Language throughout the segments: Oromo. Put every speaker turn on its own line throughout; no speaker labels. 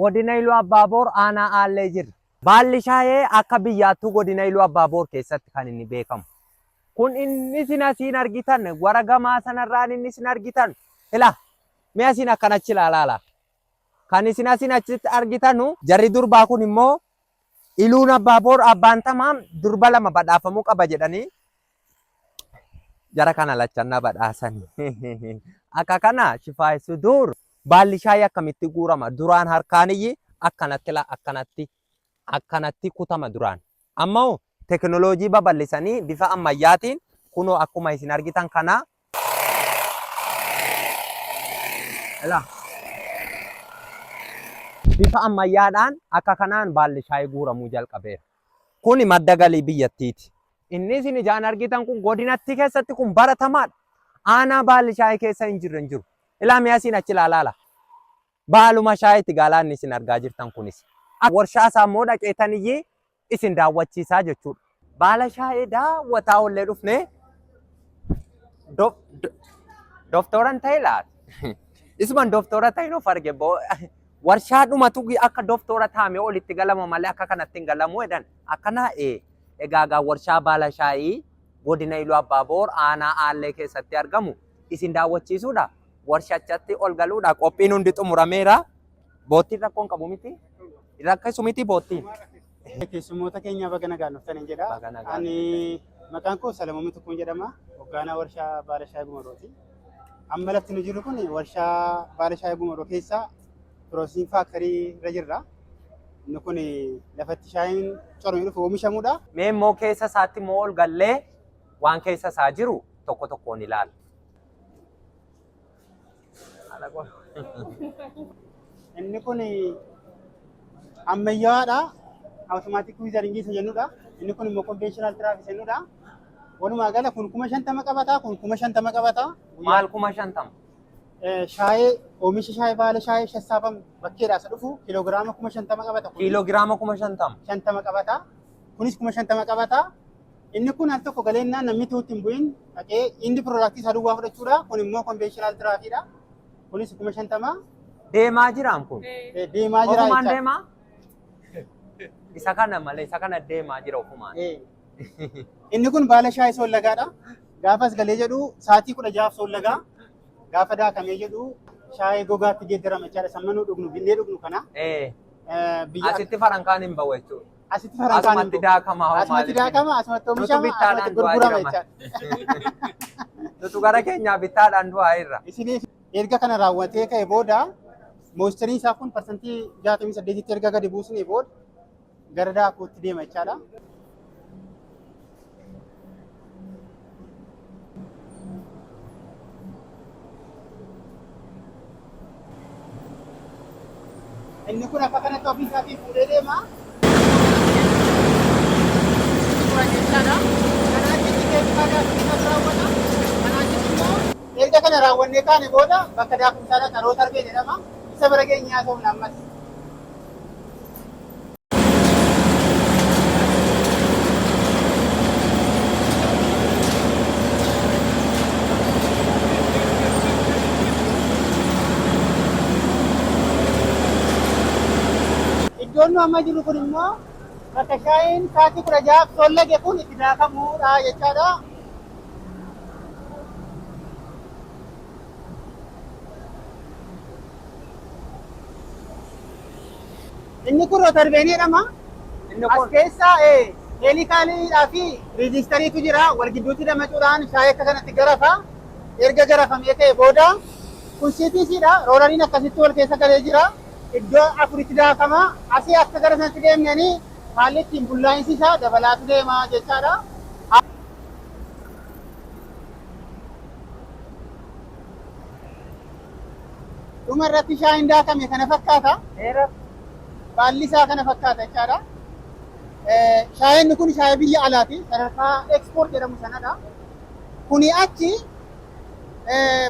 godina Iluu Abbaaboor aanaa Aallee jirra. Baalli shaayee akka biyyaattuu godina Iluu Abbaaboor keessatti kan inni beekamu. Kun inni isin asiin argitan wara gamaa sanarraan inni isin argitan ila mee asiin akkan achi ilaalaala kan isin asiin achitti argitanu jarri durbaa kun immoo iluun abbaa boor abbaan tamaa durba lama badhaafamuu qaba jedhanii jara kana lachannaa badhaasan akka kana shifaayi suduur baalli shaayii akkamitti guurama duraan harkaaniyyi akkanatti la akkanatti akkanatti kutama duraan. Amma hoo teknolojii babal'isanii bifa ammayyaatiin kunoo akkuma isin argitan kana Ilaa. bifa ammayyaadhaan akka kanaan baalli shaayii guuramuu jalqabeera. Kuni madda galii biyyattiiti. Inni isin ijaan argitan kun godinatti keessatti kun baratamaadha. Aanaa baalli shaayii keessa hin jirre hin jiru. Ilaa mi'a isin achi ilaalaala. baaluma shaayitti gaalaanni isin argaa jirtan kunis warshaa isaa immoo dhaqeetan iyyii isin daawwachiisaa jechuudha. Baala shaayee daawwataa ollee dhufne dooftoran ta'e laata? Isuman dooftora ta'e nuuf arge boo warshaa dhumatu akka dooftora taa'ame olitti galama malee akka kanatti hin galamu jedhan akkana ee egaa warshaa baala shaayii godina Iluu Abbaa Boor aanaa Aallee keessatti argamu isin daawwachiisuudha. Warshachatti ol galuudha. Qophiin hundi xumurameera. Boottiin rakkoon qabu miti. Rakkisu miti boottiin. Keessummoota
keenya baga nagaan dhuftan hin jedha. Baga nagaan Ani maqaan koo Salamoomii Tukkuun jedhama. Hoggaanaa warshaa baala shaayii gumarooti. Amma lafti nu jiru kun warshaa baala shaayii gumaroo keessa piroosiin faaktarii irra jirra. Inni kun lafatti shaayiin coromee dhufu oomishamudha. Mee immoo keessa
isaatti immoo ol gallee waan keessa isaa jiru tokko tokkoon ilaalla.
Inni kun ammayyaadha. Awutomaatik wiizaringii isa jennudha. Inni kun immoo konvenshinal tiraaf isa jennudha. Walumaa gala kun kuma shantama qabata, kun kuma shantama qabata. Maal kuma shantama?
Eh, Shaayee,
oomisha shaayee baala shaayee sassaabamu bakkeedhaa isa dhufu kiloogiraama kuma shantama qabata. kun Kiiloogiraama kuma shantama.
shantama qabata.
Kunis kuma shantama qabata. Inni kun al tokko galeennaan namni utuu itti hin bu'in dhaqee indi piroodaaktii isaa duwwaa fudhachuudha. Kun immoo konveeshinaal tiraakiidha. Kunis kuma shantama. Deemaa jiraam
kun. Eh, Deemaa jira Ofumaan
jecha. deemaa?
Isa kana malee isa kana deemaa jira ofumaan. Eh.
Inni kun baala shaayii soollagaadha. Gaafas galee jedhu sa'aatii kudha jahaaf soollagaa. Gaafa daakamee jedhu shaayii gogaatti geeddarama jechaadha. Sammanuu dhugnu, binnee dhugnu kana. Eh, eh, biyya
Asitti farankaan hin bahu jechuudha. asitti farankaan hin Asumatti
bu'u. daakama hoo Asumatti maaliif?
daakama, asumatti Nutu
oomishama, bittaadhaan asumatti du'aa gurgurama jirama. jechaadha. Nutu
gara keenyaa bittaadhaan du'aa irra. Isiniif erga kana
raawwatee ka'e booda mooistariin isaa kun parsantii 68tti erga gadi buusnee booda gara daakuutti deema jechaadha. Inni kun akka kanatti ofii isaatii fuudhee deema. Suuraa jechaadha. Kanaa achitti keemikaala daakuu kan raawwata. Kanaa achitti immoo erga kana raawwannee kaane booda bakka daakumsaadha xaroo tarbee jedhama. Isa bara keenyaa ta'uun ammas. Iddoon amma jiru kun immoo bakka shaayiin sa'aatii kudha jahaaf toollage kun itti daakamuudha jechaadha. Inni kun rotorbeen jedhama. Inni As kun keessa ee, heelikaaliidhaa fi riijistariitu jira. Wal gidduutti damacuudhaan shaayii akka kanatti garafa. Erga garafamee ka'e booda kun CTC dha. Roolariin akkasitti wal keessa galee jira. Iddoo afuritti daakama. Asii akka gara sanatti deemneen haalli ittiin bullaa'insi isaa dabalaatu deema jechaadha. Dhuma irratti shaayiin daakame kana fakkaata. Dheera. Baalli isaa kana fakkaata jechaadha. Shaayeen kun shaayee biyya alaati. Sadarkaa ekspoort jedhamu sanadha. Kuni achi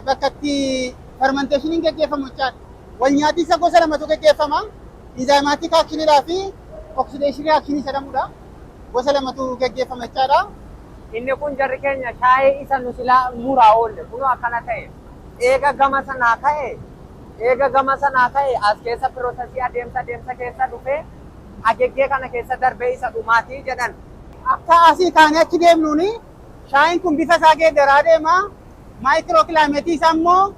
bakka itti fermenteeshiniin gaggeeffamu jechaadha. Wal nyaatiinsa gosa lamatu gaggeeffama. Inzaayimaatik aakshiniidhaa fi oksideeshinii aakshinii jedhamudha. Gosa lamatu gaggeeffama jechaadha. Inni kun
jarri keenya shaayee isa nu silaa muraa oolle kunoo akkana ta'e. Eega gama sanaa ka'e Eega gama sanaa ka'e as keessa pirosesii adeemsa adeemsa keessa dhufee ageggee kana keessa darbee isa dhumaati jedhan. Akka asii
kaanee achi deemnuun shaayiin kun bifa isaa geeddaraa deema. Maayikiroo kilaayimeetii isaa immoo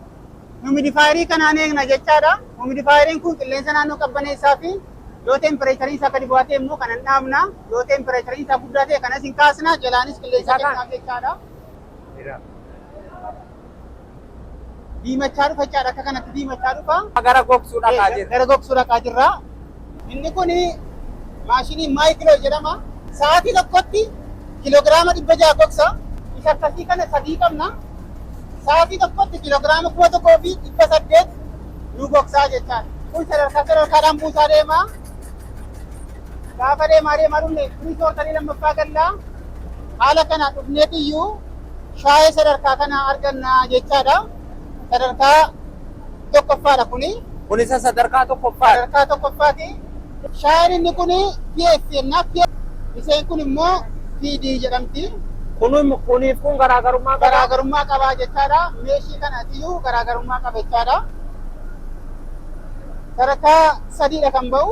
humidifaayerii kanaan eegna jechaadha. Humidifaayeriin kun qilleensa naannoo qabbaneessaa fi yoo teempireechariin isaa gadi bu'aa ta'e immoo kanan dhaabna. Yoo teempireechariin isaa guddaa ta'e kanas hin kaasna. Jalaanis qilleensa Isa kan- keenyaaf jechaadha. Jira. diimachaa dhufa jechaadha. Akka kanatti diimachaa dhufa. Gara gogsuu dhaqaa
jirra. Gara gogsuu dhaqaa jirra.
Inni kun maashinii maayikiloo jedhama. Sa'aatii tokkotti kiloogiraama dhibba ja'a gogsa. Isa akkasii kana sadii qabna. Sa'aatii tokkotti kiloogiraama kuma tokkoo fi dhibba saddeet nu gogsaa jechaadha. Kun sadarkaa sadarkaadhaan buusaa deema. Gaafa deemaa deemaa dhufne firii soortanii lammaffaa galla. Haala kana dhufneetiyyuu Shaayee sadarkaa kana arganna jechaadha. Sadarkaa tokkoffaadha kuni. Kun isa sadarkaa
tokkoffaati. Sadarkaa tokkoffaati.
Shaayeen inni kun PS jenna. Isheen kun immoo PD jedhamti. Kun kuniif
kun garaagarummaa qaba. Garaagarummaa
qaba jechaadha. Meeshii kanatiyyuu garaagarummaa qaba jechaadha. Sadarkaa sadiidha kan ba'u.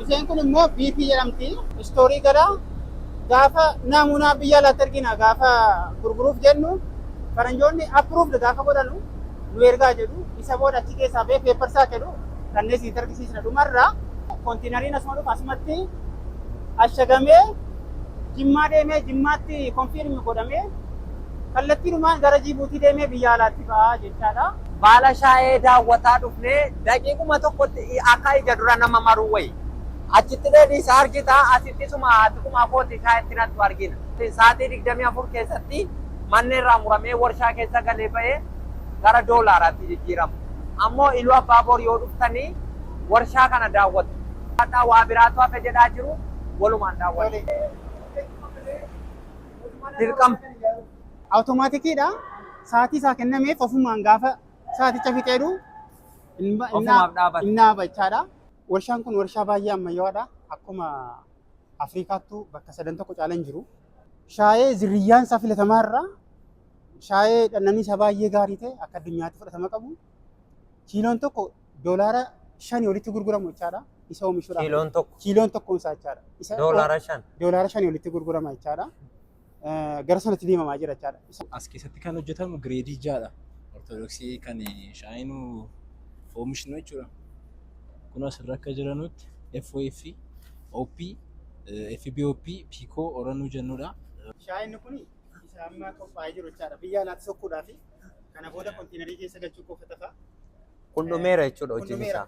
Isheen kun immoo BP jedhamti. Istoorii gara gaafa naamunaa biyya alaatti ergina gaafa gurguruuf jennu faranjoonni approved gaafa godhanu nu ergaa jedhu isa booda achi keessaa bee peepparsaa jedhu kanneen isin argisiisna dhumarraa kontiinariin asuma dhufa asumatti ashagamee jimmaa deemee jimmaatti konfiirmi godhamee kallattiinumaan gara jiibuutii deemee biyya alaatti ba'aa jechaadha. Baala shaayee
daawwataa dhufnee daqiiquma tokkotti akka ija dura nama maruu wayi. Achitti deebiisa argita, asitti isuma xiquma kooti kaa itti naqxu argina. Saatii 24 keessatti manni irraa muramee warshaa keessa galee ba'e gara doolaaraatti jijjiirama. Ammoo Iluu Abbaaboor yoo dhuftani warshaa kana daawwatu. Hadhaa waa biraatu hafe jedhaa jiru walumaan daawwanna. Dirqama.
Awutomaatikii dha. Saatii isaa kennameef ofumaan gaafa saaticha fixee du, hin, hin, hin dhaaba jechaadha. Warshaan kun warshaa baay'ee ammayyawaadha. Akkuma Afrikaattuu bakka sadan tokko caalan hin jiru. Shaayee zirriyyaan isaa filatamaa irraa shaayee dhannanii isaa baay'ee gaarii ta'e akka addunyaatti fudhatama qabu. Kiiloon tokko doolaara shanii olitti gurguramu jechaadha. Isa oomishuudhaaf. Kiiloon tokko kiiloon tokkoon isaa jechaadha. Isa doolaara shan.
doolaara shanii olitti gurgurama
jechaadha. gara sanatti deemamaa jira jechaadha. As keessatti kan
hojjetamu gireedii ja'adha. Ortodoksii kan shaayinu oomishnu jechuudha. Kun asirra akka jiranutti FOF, OP, FBOP, PICO, Oranuu jennudha. Shaayinni kun
isa amma qophaa'ee jiru jechaadha. Biyya alaatti sokkuudhaa fi kana booda kontiinarii keessa galchuu qofa tafa. Kun dhumeera
jechuudha hojiin isaa.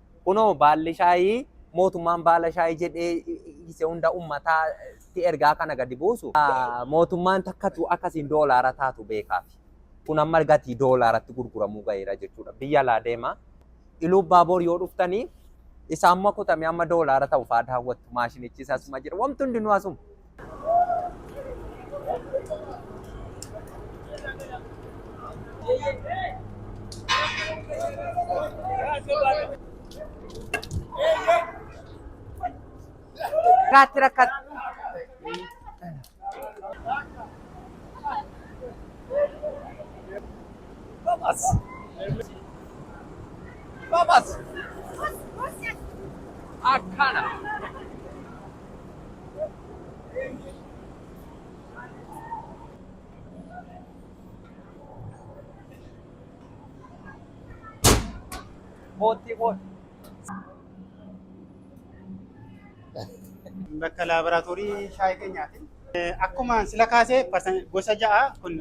Kunoo baalli shaayii mootummaan baala shaayii jedhee isa hunda ummataatti ergaa kana gadi buusu. Mootummaan takkatu akkasiin doolaara taatu beekaafi. Kun amma gatii doolaaratti gurguramuu gaheera jechuudha. Biyya alaa deema. Iluu Abbaa Boor yoo dhuftanii isaamuma kutamee amma doolaara ta'u fa'aa daawwattu. Maashinichi isasuma jira. Wanti hundinuu asuma. Irraatti rakkata.
bakka laaboraatoorii shaayii keenyaati. Akkuma sila kaasee gosa ja'a kun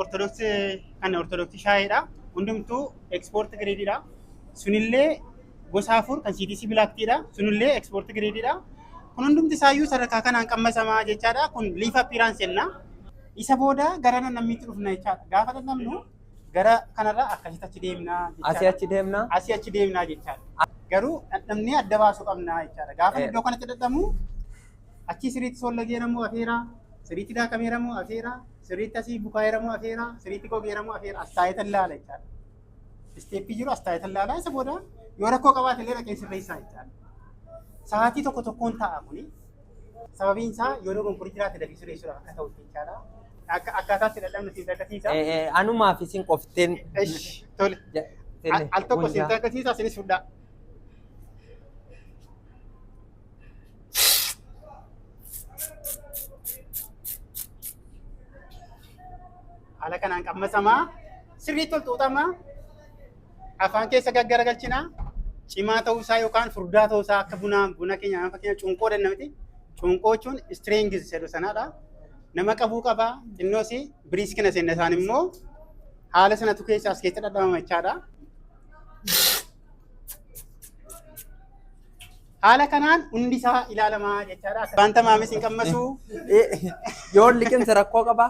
ortodoksii kan ortodoksii shaayiidha. Hundumtuu ekspoorti giriidiidha. Sunillee gosa afur kan CTC Black Tea dha. Sunillee export grade dha. Kun hundumti isaayyuu sadarkaa kanaan qammasamaa jechaadha. Kun leaf appearance jenna. Isa booda gara namnammiitti dhufna jechaadha. Gaafa namnu gara kanarra akkasitti achi deemna jechaadha. Asii
achi
deemna. Asii achi deemna jechaadha. Garuu dhandhamnee adda baasuu qabna jechaadha. Gaafa iddoo kanatti dhadhamu achii siriitti sollageera moo afeera, siriitti daakameera moo afeera, siriitti asii bukaa'eera moo afeera, siriitti gogeera moo afeera as taa'eetan laala jechaadha. Isteeppii jiru as taa'ee tallaalaa isa booda yoo rakkoo qabaate illee dhaqee sirreessaa jechaadha. Sa'aatii tokko tokkoon ta'a kuni. Sababiin isaa yoo dogongorii jiraate dafii sirreessuudhaaf akka ta'utti jechaadha. Akka akkaataatti dadhabnu siin takkasiisa. Eh, eh, Anumaa fi isin
qofteen. Esh, tole.
Ja- Al tenne, al tokko siin gundaa. takkasiisa isinis fudhaa. Haala kanaan qammasamaa sirriitti ol xuuxama. Afaan keessa gaggaragalchina. Cimaa ta'uu isaa yookaan furdaa ta'uu isaa akka bunaa buna keenya nama fakkeenya cunqoo danna miti. Cunqoo jechuun strings jedhu sanadha. Nama qabuu qaba. Innoos biriiskina seenna isaan immoo haala sanatu keessa as keessa dhadhamama jechaadha. Haala kanaan hundi isaa ilaalamaa jechaadha. Wanta maamis hin qammasu.
Yoon liqimsa rakkoo qabaa?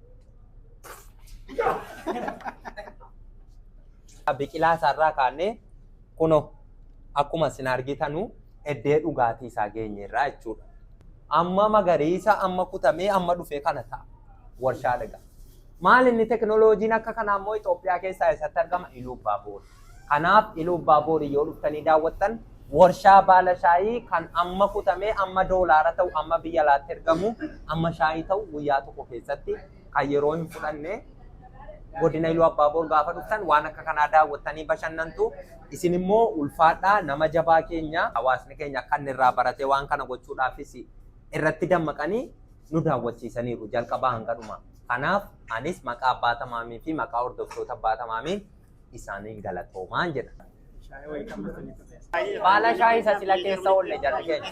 biqilaa isaarraa kaannee kuno akkuma isin argitanu eddee dhugaatii isaa geenyeerraa jechuudha. Amma magariisa amma kutamee amma dhufee kana ta'a warshaa dhagaa. Maal inni teknooloojiin akka kanaa immoo Itoophiyaa keessaa eessatti argama? Iluu Abbaa Boor. Kanaaf Iluubbaaboorii yoo dhuftanii daawwattan warshaa baala shaayii kan amma kutamee amma doolaara ta'u amma biyya alaatti ergamu amma shaayii ta'u guyyaa tokko keessatti kan yeroo hin fudhanne godina Iluu Abbaaboor gaafa dhuftan waan akka kanaa daawwattanii bashannantu isin immoo ulfaadhaa nama jabaa keenya hawaasni keenya akka inni irraa baratee waan kana gochuudhaafis irratti dammaqanii nu daawwachiisaniiru jalqabaa hanga dhumaa. Kanaaf anis maqaa Abbaa Tamaamii fi maqaa hordoftoota Abbaa Tamaamiin isaaniin galatoomaan jedha. Baala shaayii isa sila keessa oolle jarri keenya.